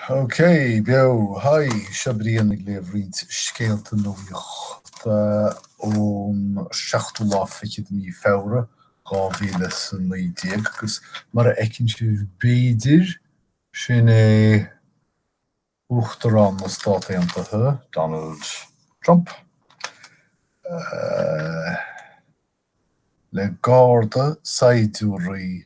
OK, beo! Haigh, seo Brian ag léamh roinnt scéalta nuachta ón seachtú lá fichead de mhí Feabhra, dhá mhíle is a naoi déag, agus mar a fheiceann sibh, b'fhéidir, sin é Uachtarán na Stát Aontaithe, Donald Trump, le garda saighdiúraí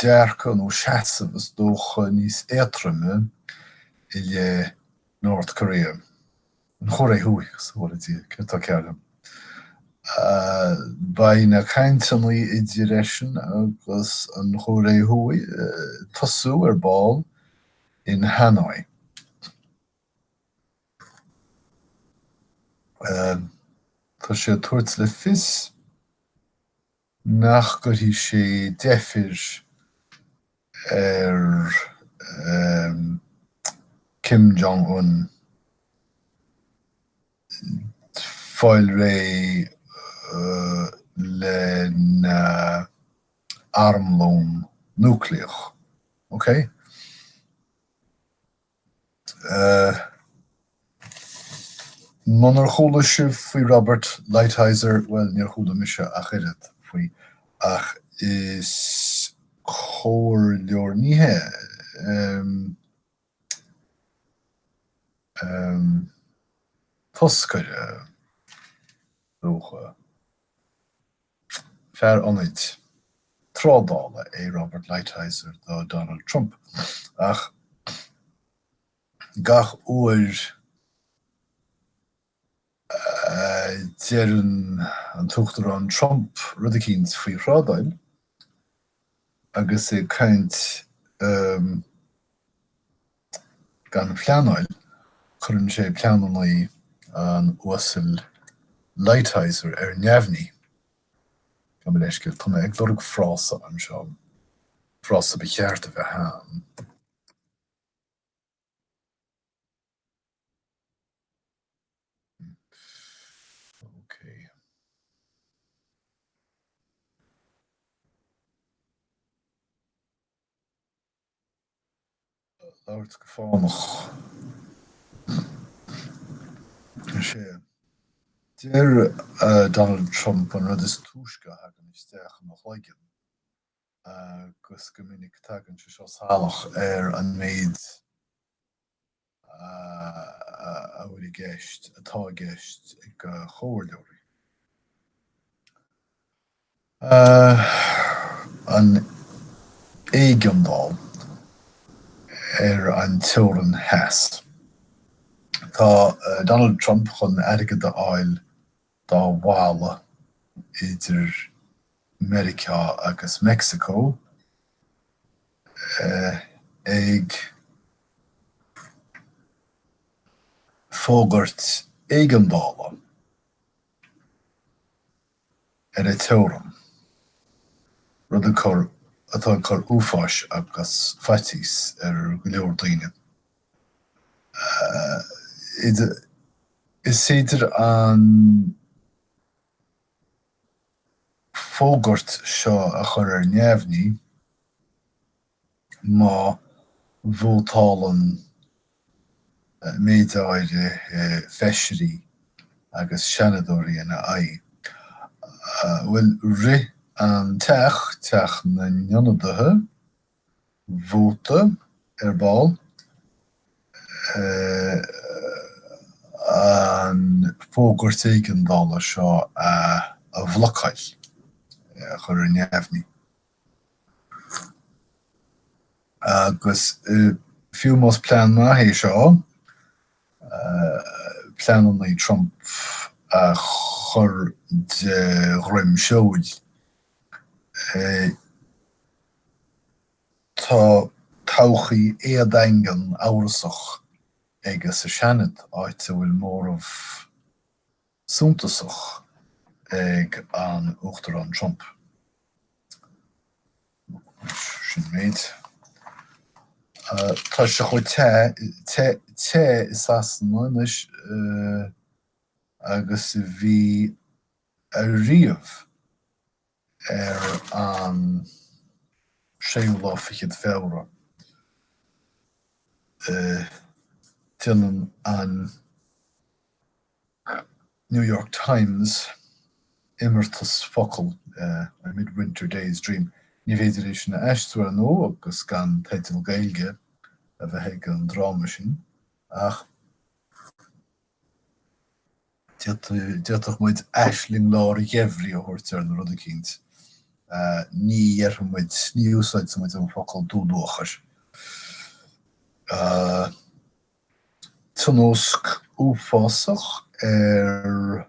dearcadh nó seasamh is dócha níos éatroime i leith North Korea, an Chóiré Thuaidh, bhuel, céard tá cearr liom? Beidh na cainteanna idir eisean agus an Chóiré Thuaidh ag tosú ar ball in Hanoi. Tá sé ag tabhairt le fios nach gcuirfidh sé deifir ar Kim Jong-un fáil réidh lena armlón núicléach. Munar chuala sibh faoi Robert Lighthizer, bhuel, níor chuala mise ach oiread faoi, ach is comhairleoir, ní hea, em, toscaire, is dócha. Fear ionaid trádála é Robert Lighthizer do Donald Trump, ach gach uair a deireann an tUachtarán Trump rud eicínt faoi thrádáil, agus é ag caint gan pleanáil, cuireann sé pleananna an Uasail Lighthizer ar neamhní. Gabh mo leithscéal, tá mé ag lorg frása anseo, frása ba cheart a bheith ann. labhairt go fánach. is ea. Deir Donald Trump an rud is túisce a thagann isteach ina chloigeann agus go minic tagann sé seo salach ar an méid a bhfuil i gceist, atá i gceist ag comhairleoirí. An éigeandáil ar an teorainn theas. Tá Donald Trump chun airgead a fháil dá bhalla idir Meiriceá agus Meicsiceo, ag fógairt éigeandála ar an teorainn, rud atá ag cur uafáis agus faitíos ar go leor daoine. Is féidir an fógairt seo a chur ar neamhní má vótálann méid áirithe feisirí agus seanadóirí ina aghaidh. Bhuel, rith an teach, Teach na nIonadaithe, vóta ar ball an fógairt éigeandála seo a bhlocáil, a chur ar neamhní, agus fiú más plean maith é seo, pleanannaí Trump a chur de dhroim seoil. Tá todhchaí éadaingean, amhrasach aige sa Seanad, áit a bhfuil móramh suntasach ag an Uachtarán Trump. Sin an méid. Tá sé chomh te, te, te i Sasana anois agus a bhí ariamh. ar an séú lá fichead Feabhra. Déanann an New York Times imeartas focal, A Midwinter Day's Dream. Ní féidir é sin a aistriú, ar ndóigh, agus gan teideal Gaeilge a bheith ag an dráma sin, ach. D'fhéadfadh muid aisling lár an gheimhridh a thabhairt air nó rud eicínt. Ní dhéarfaidh muid, ní úsáidfidh muid an focal dúluachair. Tionóisc uafásach ar.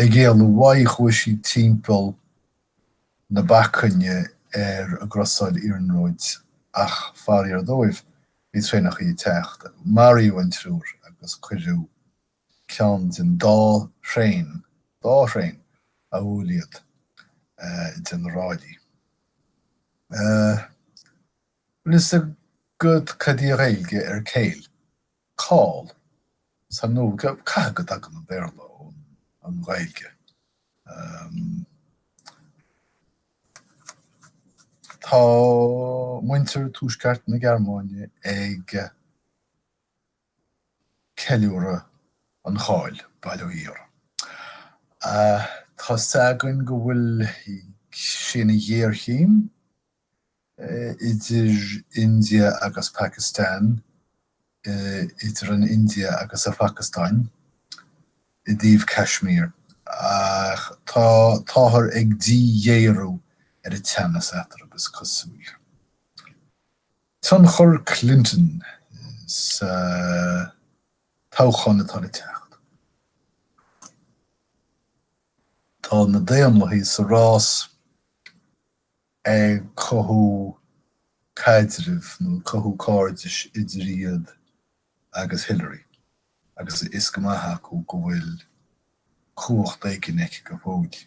Ag éalú uaidh chuaigh sí timpeall na bacainne ar an gcrosáid iarnróid ach, faraor dóibh, bhí traenacha ag teacht. Maraíodh an triúr agus cuireadh ceann den dá thraein, dhá thraein a bhuail iad, idir na ráillí. Bhfuil fhios agat cad í a Ghaeilge ar kale? cál sa nó caithfidh go dtagann an Béarla ón an Ghaeilge. Tá muintir tuaisceart na Gearmáine ag ceiliúradh an cháil bail ó Dhia orthu. Tá 's againn go bhfuil sé ina ghéarchéim. idir India agus Pakistan, idir an India agus an Phacastáin, i dtaobh Kashmir, ach tá táthar ag díghéarú ar an teannas eatarthu, is cosúil. Tionchar Clinton sa toghchán atá le teacht. Tá na Daonlathaigh sa rás. ag cothú caidrimh nó ag cothú cairdis idir iad agus Hillary agus a fhios go maith acu go bhfuil cumhacht éigin aici go fóill.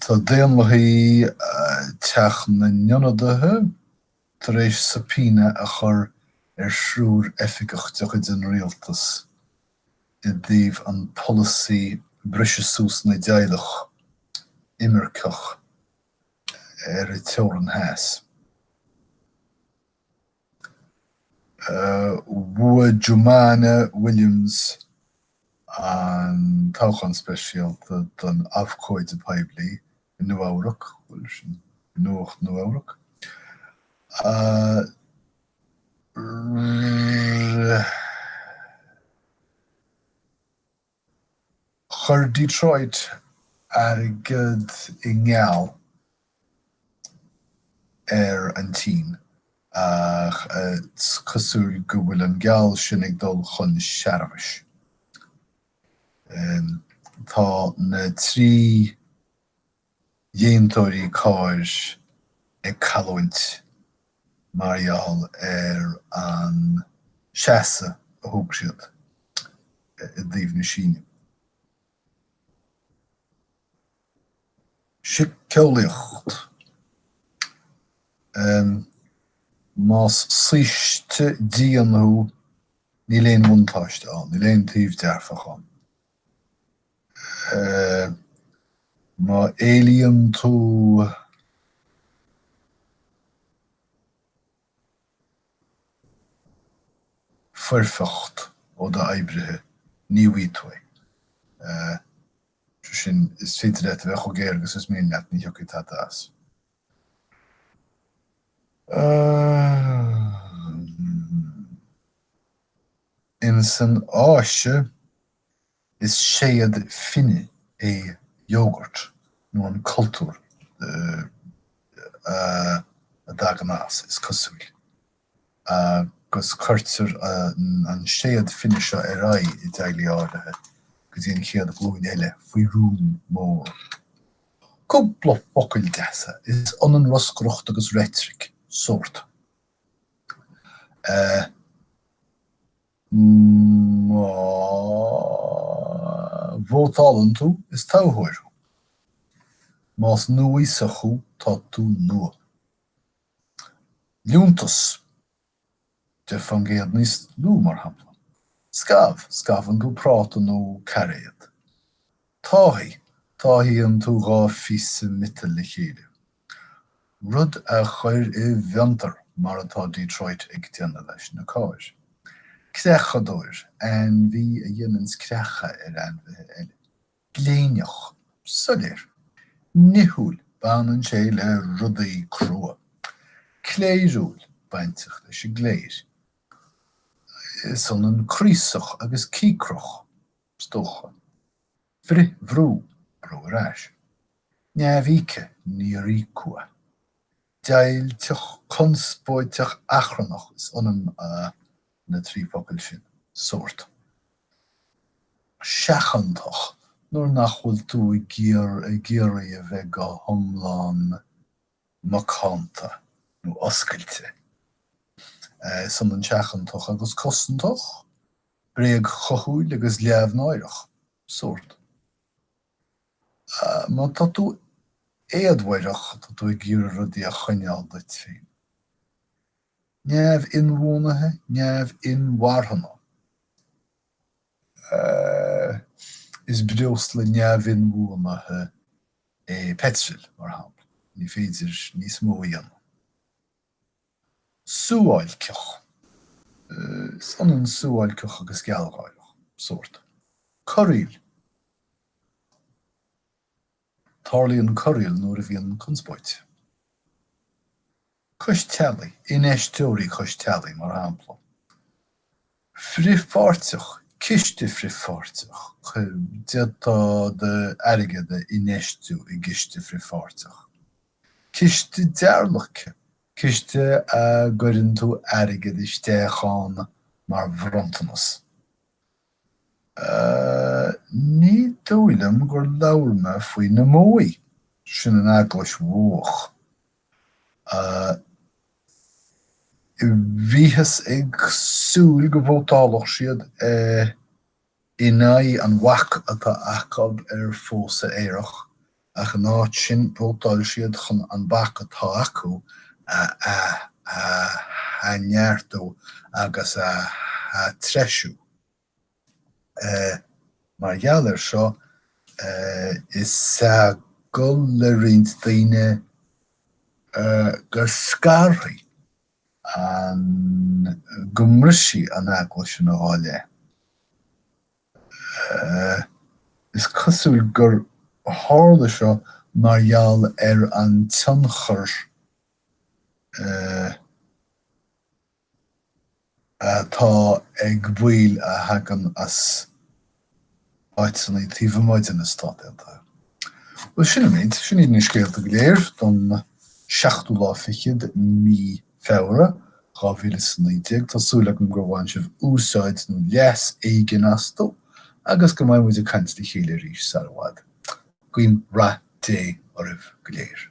Tá Daonlathaí Teach na nIonadaithe, Tar éis subpoena a chur ar thriúr oifigeach de chuid an Rialtas i dtaobh an polasaí briseadh suas na dteaghlach imirceach ar an teorann theas, bhuaigh Jumaane Williams an toghchán speisialta don Abhcóide Poiblí i Nua-Eabhrac, bhuel, sin Nuacht Nua-Eabhrac, rith. Chuir Detroit airgead i ngeall ar an tSín, ach is cosúil go bhfuil an geall sin ag dul chun searbhais. Tá na trí dhéantóirí cairr ag cailliúint mar gheall ar an seasamh a thóg siad i dtaobh na Síne. Síceolaíocht Em. más saoiste dian thú, níl aon bhuntáiste ann, níl aon taobh dearfach ann. Em. má éilíonn tú. foirfeacht ó d'oibrithe, ní bhfuighidh tú é. Sé sin, is féidir leat a bheith chomh géar agus is mian leat, ní thiocfaidh tada as. Insan Áise, Is séad fine é iógart nó an cultúr a dtagann as, is cosúil, agus cuirtear an séad fine seo ar aghaidh i dteaghlaigh áirithe go dtí an chéad ghlúin eile faoi rún mór. Cúpla focail deasa, is ionann roscaireacht agus reitric, sórt. Má vótálann tú, is toghthóir thú. Más núíosach thú, tá tú nua. Liúntas, deich fán gcéad níos lú, mar shampla. Scamh, scamhann tú práta nó cairéad. Táthaigh, táthaíonn tú dhá phíosa miotail le chéile. rud a chuir i bhfiontar mar atá Detroit ag déanamh leis na cairr. creachadóir, ainmhí a dhéananns creacha ar ainmhithe eile. gléineach, soiléir. nithiúil, baineann sé le rudaí crua. cléiriúil, bainteach leis an gcléir. is ionann craosach agus cíocrach, is dócha. Frithbhrú, brú ar ais. Neamhíoctha, níor íocadh. Deighilteach, conspóideach, achrannach, is ionann a na trí focail sin. Sórt. Seachantach, nuair nach bhfuil tú ag iarraidh a bheith go hiomlán macánta nó oscailte. Is ionann seachantach agus cosantach. bréagchúthail agus leamhnáireach, sórt. Ah, má tá tú éadmhaireach, tá tú ag iarraidh rudaí a choinneáil duit féin. Neamh-inbhuanaithe, neamh-inmharthana. Eh, is breosla neamh-inbhuanaithe é peitreal, mar shampla. Ní féidir níos mó a dhéanamh. suáilceach. Is ionann suáilceach agus gealgháireach, sórt. Corraíl. Tarlaíonn corraíl nuair a bhíonn conspóid. Cois teallaigh, infheisteoirí cois teallaigh, mar shampla. frithpháirteach, ciste frithpháirteach, ci, d'fhéadfá d'airgead a infheistiú i gciste frithpháirteach, ciste dearlaice, ciste a gcuireann tú airgead isteach ann mar bhronntanas, ní dóigh liom gur labhair mé faoi na Modhaigh, sin an Eaglais Mhodhach. Bhíothas ag súil go vótálfadh siad in aghaidh an bhac atá acu ar phósadh aerach, ach in áit sin vótáil siad chun an bac atá acu a athneartú agus a atreisiú. Mar gheall air seo, is eagal le roinnt daoine go scarfaidh an go mbrisfidh an eaglais ina dhá leith. Is cosúil gur tharla seo mar gheall ar an tionchar. atá ag baill a thagann as áiteanna taobh amuigh de na Stáit Aontaithe. Bhuel, sin an méid. Sin iad na scéalta go léir don seachtú lá fichead de mhí Feabhra, 2019. Tá súil agam gur bhain sibh úsáid nó leas éigin astu agus go mbeidh muid ag caint le chéile arís sar i bhfad. Guím rath Dé oraibh go léir.